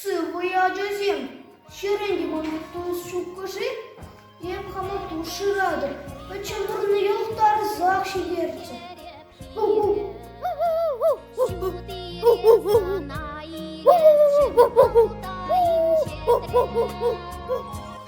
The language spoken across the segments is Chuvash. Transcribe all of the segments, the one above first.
Сывпуй ачасем, ҫӗрен те тунсуккӑ-ши? Эп хама пуш шыратӑп, пӗр чӑмӑрне йӑлтарсах ҫитерчӗ.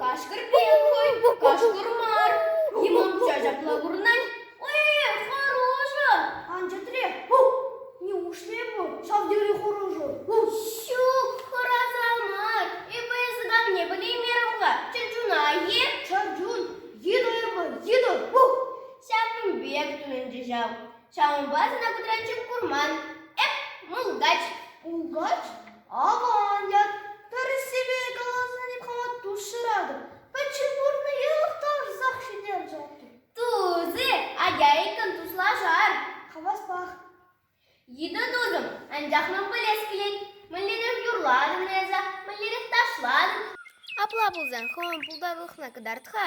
Кашкӑр пек хӑй, кашкӑр мар. Йӑмам ҫапла курнать. Эй, хороша! Анчӑтре, неужели эпӗ ҫав тери хороша? Ҫук, хӑраса мар. Эпӗ эсӗ давне пӗлеймерӗм-ха. Чӗрчуна е? Чӗрчун, йытӑ эпӗ, йытӑ. Ҫавӑн пек тунӑччӗ ҫав. Ҫавӑнпа сана кудрянчук курман. Эп мулкач. Мулкач? Аван ят. Тӗрӗссипе каласан эп хӑматту шыратӑп. Пӗчченпурнӑ йӑлӑхтарсах ҫитерчӗ. Тузи, ачайӑккӑн туслашар. Хаваспах. Йытӑ тусӑм, анчах ман пӗлес килет. Мӗнлерех юрлатӑн эсӗ, мӗнлерех ташлатӑн? Апла пулсан хӑвӑн пултарулӑхна кӑтарт-ха.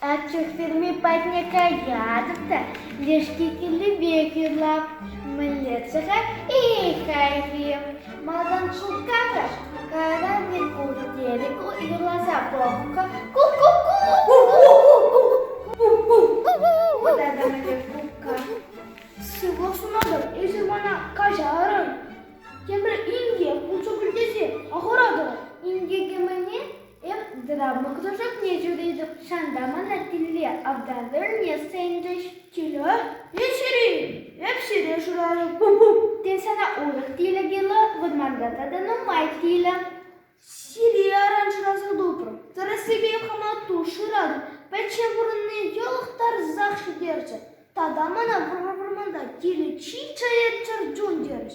Атьӑр ферми патне каятӑп та лешке килли пек юрлап мӗнле-ччӗ-ха, эй хайхи. Малтан шупка-ха, кайран Меркурий дерек юрласа пӑхкӑ. Ку-ку-ку-ку. Вот это моя шупка. Всего сунатӑп, эсир мана каҫарӑн. Тепӗр инке пулса кӳлтесе ахӑратӑр. Инке кӗмене Эп драмӑ кружокне ҫӳретӗп, ҫанта мана тилле автоверне сӗнчӗҫ. Киле? Эҫӗр-и? Эп сире шырарӑм. Тен, сана урӑх тилӗ килӗ? Вӑрманта тата нумай тилӗ. Сире аран шыраса тупрӑм. Тӗрӗссипе хӑнату шыратӑп. Пӗччен пурӑнни йӑлӑхтарсах ҫитерчӗ. Тата мана вӑрманта тилӗ чи чӗрчун терӗҫ.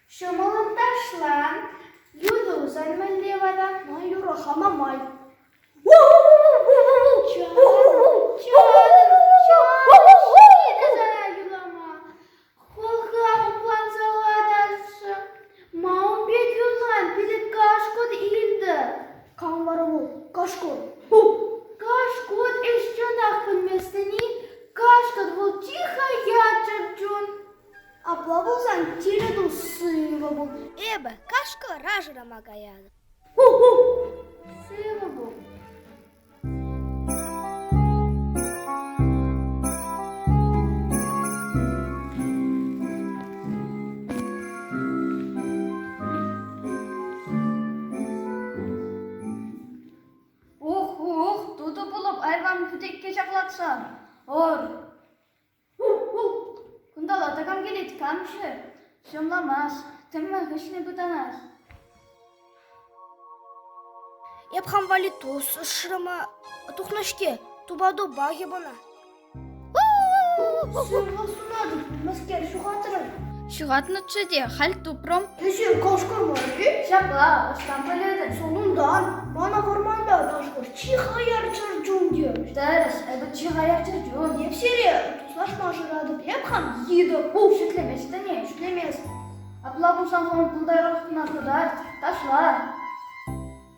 Ҫӑмӑллӑн ташлан, юсусан мӗнле вататма юрӑ-ха Мамай? Кашкӑр. Кашкӑр ӗҫ чӑнах пӗлместӗн-и? Кашкӑр вӑл чи хаят чӗрчун. Апла пулсан тирӗ туссенька пул. Эпӗ кашкӑ рашӑрама каятӑп. Ху-ху! Сывӑ пул. Ох, ох, тутӑ пулӑп айран путекке ҫаклатса. Ор! Кунталла тӑкам килет кам-ши? Ҫӑмламас, тӗммӗн хыҫне пытанать. Эп хам валли тус ӑшрӑма тухнӑ-ҫке, тупа-тупа йӑпана. Сывлӑх сунатӑп, мӗскер ҫухатрӑн? Ҫухатнӑччӗ те, халь тупрӑм. Кӗҫӗн кӑшкӑрмӑшки ҫапла ӑҫтан пӗлетӗн? Сулунтан мана вӑрманта тӑшкӑр чи хаяр чӗрчун терӗҫ. Терӗҫ, эпӗ чи хаяр чӗрчун. Эп сире туслашма шыратӑп, эп хам йытӑ пул шӳтлеместӗн-и? Шӳтлеместӗн. Апла пулсан сан култайрахна хытар, ташла.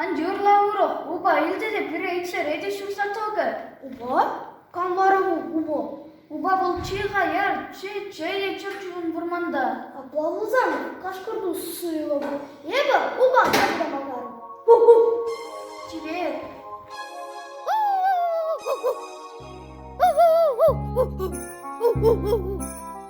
Ан тӳрле, урӑх, упа илчӗ те пире икшере те ҫурса тӑкӗ. Упа? Кам вара ку упа? Упа вӑл чи-ха, яр, чи чей е чӗрчун вӑрманта. Апла пулсан, кашкӑртус суйлӑп. Эпӗ упа карта макарӑм. Ку-ку! Чилет! Ку-ку! Ку-ку!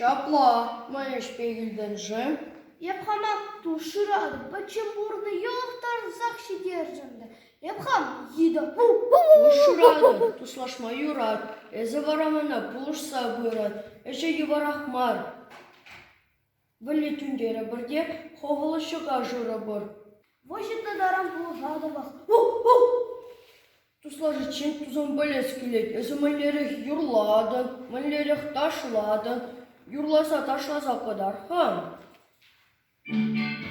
Ҫапла, ман ӗҫпе килтӗн-ши? Эп хама тушран пӗччен пурнӑ йӑлӑх тарсах ҫитерчӗ ӗнтӗ. Эп хам йытӑ. Тушран туслашма юрать. Эсӗ вара мана пулӑшса пырӑн. Ӗҫе йывӑрах мар. Вӗлле тӳнтерӗпӗр те хӑвӑла ҫӑка шырӑпӑр. Выҫӑтнӑ таран пулӑшатӑпӑр. Туслашиччен тусан пӗлес килет, эсӗ мӗнлерех юрлатӑн, мӗнлерех ташлатӑн, юрласа ташласа кӑтар, ха?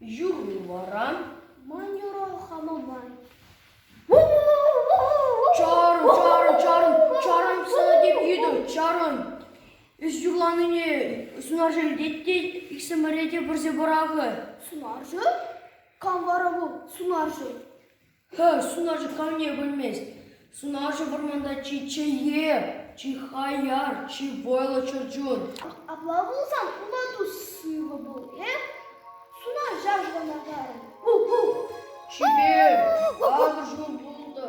Юрли вара манера хама май. Чарӑн, чарӑн, чарӑн, чарӑн сана теп йытӑм, чарӑн. Эс юрланине сунарҫӑ илтет те иксӗмӗре те пӗрсе пӑрахӗ. Сунарҫӑ? Кам вара вӑл сунарҫӑ? Сунарҫӑ камне пӗлмест, сунарҫӑ вӑрманта чи чӗйхе, чи хаяр, чи вӑйлӑ чӗрчун. Апла пулсан уна тус сывӑ пул, э? Сунарҫа шӑнатарӑн. Пу-пу! Чипер, такӑр чун пултӑр.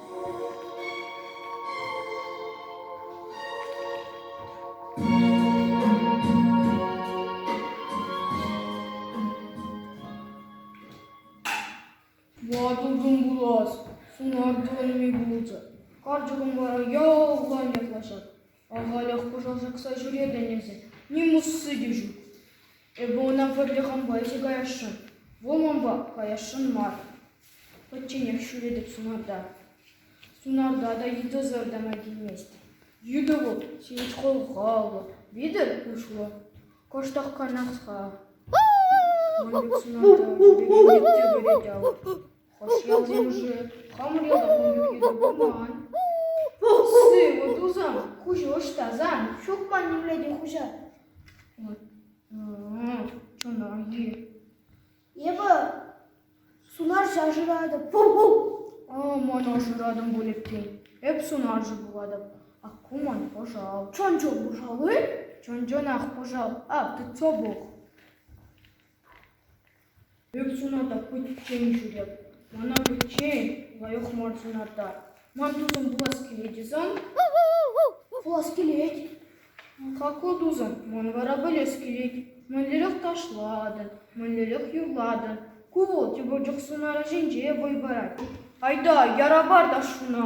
Ватӑ пулас, сунар тӑвӑлми пулчӗ. Карчӑкӑм вара ялан ятлаҫать. Авалах пушан ҫакса ҫӳретӗн эсӗ, ним усси те ҫук. Эпӗ ӑна пӗрле хампа ӗҫе каясшӑн, вӑл манпа каясшӑн мар. Пӗчченех ҫӳретӗп сунарта. Сунарта та йытӑсӑр тама килмест. Йытӑ вӑл ҫивӗч хӑлхаллӑ, витӗр куҫлӑ, кӑштах канаҫха. Ман пек сунарта пӗр пек йытӑ кӗрет ав. Хӑш ялсенче хамӑр ялта ун пек йытӑ пулман? Сывӑ тусан, куҫӗ ӑҫтасан, ҫук ман нимле те хуҫа. Чунар-и? Эпӗ сунарҫа шыратӑп. Пу-пу! А, ман ашыратӑн пуль иккен. Эп сунарҫӑ пулатӑп. Ак ку ман пӑшал. Чӑн-чӑн пӑшал-и? Чӑн-чӑнах пӑшал. Ак, it's обох. Пек сунатӑп, пӗччен ҫӳреп. Мана пӗччен, лайӑх мар сунатӑр. Ман тусӑм пулас килет-и сан? Пулас килет. Какой тусӑм? Ман вара пӗлес килет. Мӗнлерех ташлатӑн, мӗнлерех юрлатӑн. Ку вӑл тепӗр чух сунар ӗҫӗнче вӑй парать. Айта, яра пар та шуна.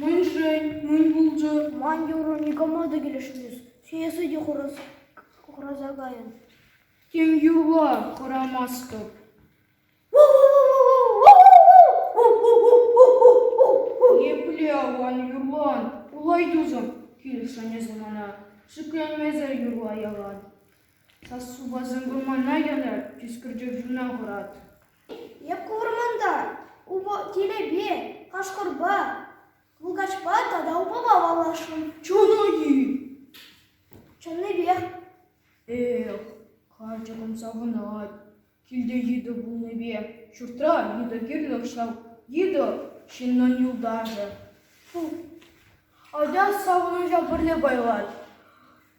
Мӗн-ши? Мӗн пулчӗ? Ман юрӑ никама та килӗшмест. Сиесе те хураса кайӑн. Тем юрла хӑрамастӑп. Епле аван юрлан, улай тусӑм, килӗшнӗ мана. Шикленмесӗр юрла ялан. Сассупасем вырмана янӑ, тискӗрчӗ чуна хӑрат. Эп курман-та, Тилепе, Кашкӑрпа, Мулкачпа тата Упапа паллашрӑм. Чуну-и? Чӑннипех. Эх, карчӑк ун савӑнать. Килте йытӑ пулнипе ҫуртра йытӑ кирлех ҫав. Йытӑ – ҫыннӑн юлташӗ. Фу, атя савӑнӑҫа пӗрле пайлать.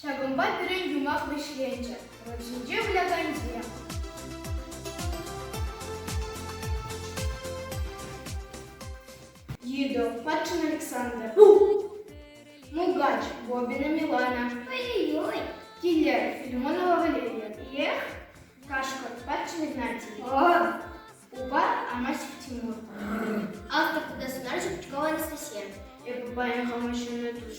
Ҫакӑнпа пирӗн юмах вӗҫленчӗ – руль ҫинче выляканҫе. Йытӑ, Патшин Александр, Мулкач, Бобина Милана, ой-ой-ой, Киллер, Филимонова Валерия, Эх, Кашкӑр, Патшин Игнатий. Упа амаҫҫӗ Тимур. Автор тата сӑнарҫӑ Пучкова Анастасия. Эпӗ паян хама ҫынна туш